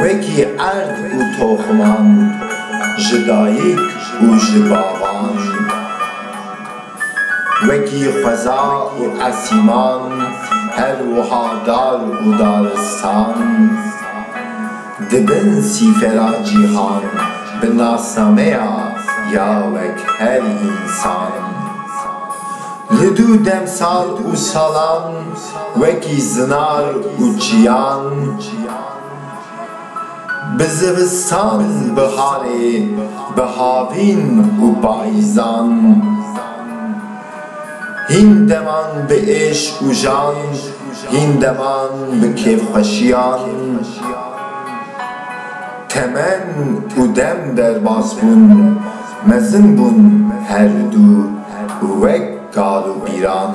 Wekî erd û toxman, ji dayik û ji bavan. Wekî xweza û esîman, her wiha dar û daristan. Di bin sîfera cîhan, bi nasnameya ya wek her însan. Li dû demsal û salan. wekî zinar û çiyan Bi zivistan biharê bi havîn û payîzan Hîn deman bi êşq û jan hîn deman bi kêfxweşiyan. Temen û dem derbas bûn, mezin bûn herdu wek kal û bîran.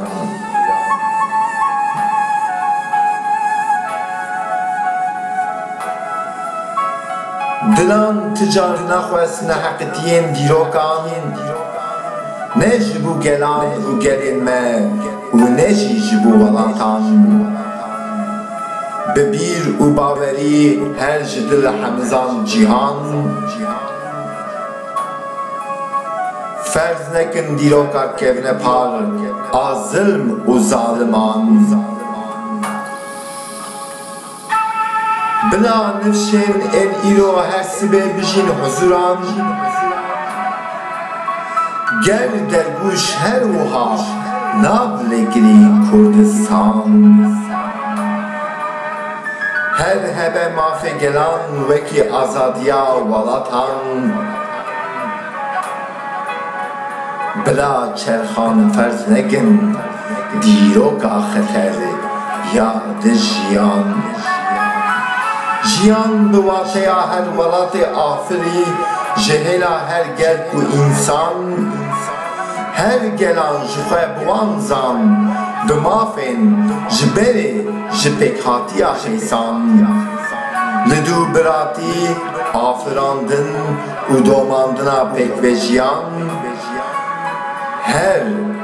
Dilan ti carî naxwest neheqîtiyên dîrokan, ne ji bo gelan û gelên me û ne jî ji bo welatan. Bi bîr û bawerî her ji dil hemizan cîhan Ferz nekin dîroka kevne par a zilm û zaliman Bila nifşên ên îro her sibê bijîn huzûran. Gel dergûş her wiha nav li girî Kurdistan. Her hebe mafê gelan wekî azadiya welatan. Bila çerxan ferz nekin. Dîroka xeter ya di jiyan de. Jiyan bi wateya her welatê afirî ji hêla her gel û însan. Her gelan ji xwe bi wan zan, bi mafên ji berê ji pêkhatiya xêsan. Li dû biratî afirandin û domandina pêkvejiyan. Her.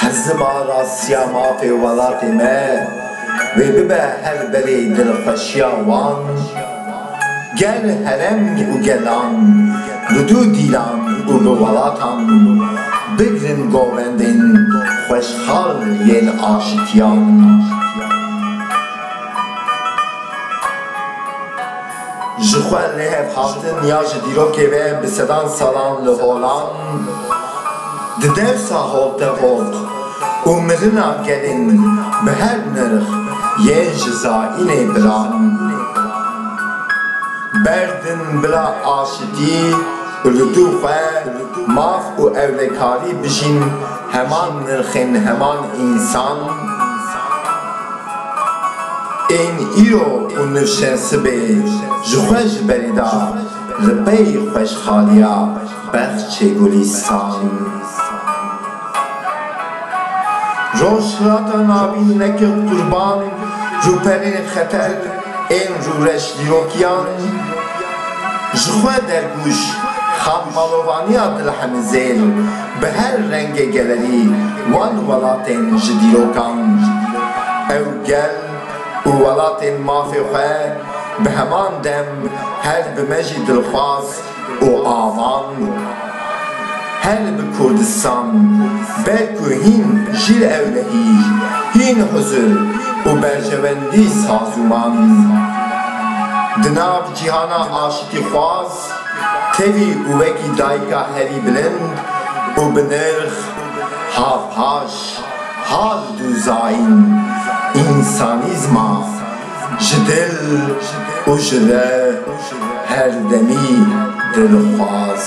Hezim a rastiya mafê welatê me wê bibe her berê dilxweşiya wan, gel herem û gelan bi dû dîlan û bi welatan bigirin govendên xweşxal yên aşitiyan. Ji xwe lêv hatin ya ji dîrokê ve bi sedan salan li holan di dewsa hol te hot û milina gelên bi her nirx yên ji zaînê bilan berd in bila aşitî û li dû xwe maf û ewlekarî bijîn. Heman nirxên heman însan ên îro û nirşên sibê ji xwe ji berî da li pey xweşxaliya Bexçê Gulîstan. Rojhilata Navîn nekir qurban rûperên xeter ên rûreş dîrokiyan, ji xwe dergûş Xanmalovaniya Dilhemizêr, Bi her rengê gelerî wan welatên ji dîrokan. Ew gel û welatên mafê xwe bi heman dem her bi me jî dilxwaz û avan bûn. Her bi Kurdistan be ku hîn jîr ewlehî, hîn huzur û berjewendî sazûman. Di nav cîhana aşitîxwaz Tevî û wekî dayika herî bilind û bi nirx havpaş hal dû zayîn însanîzma ji dil û ji re herdemî dilxwaz.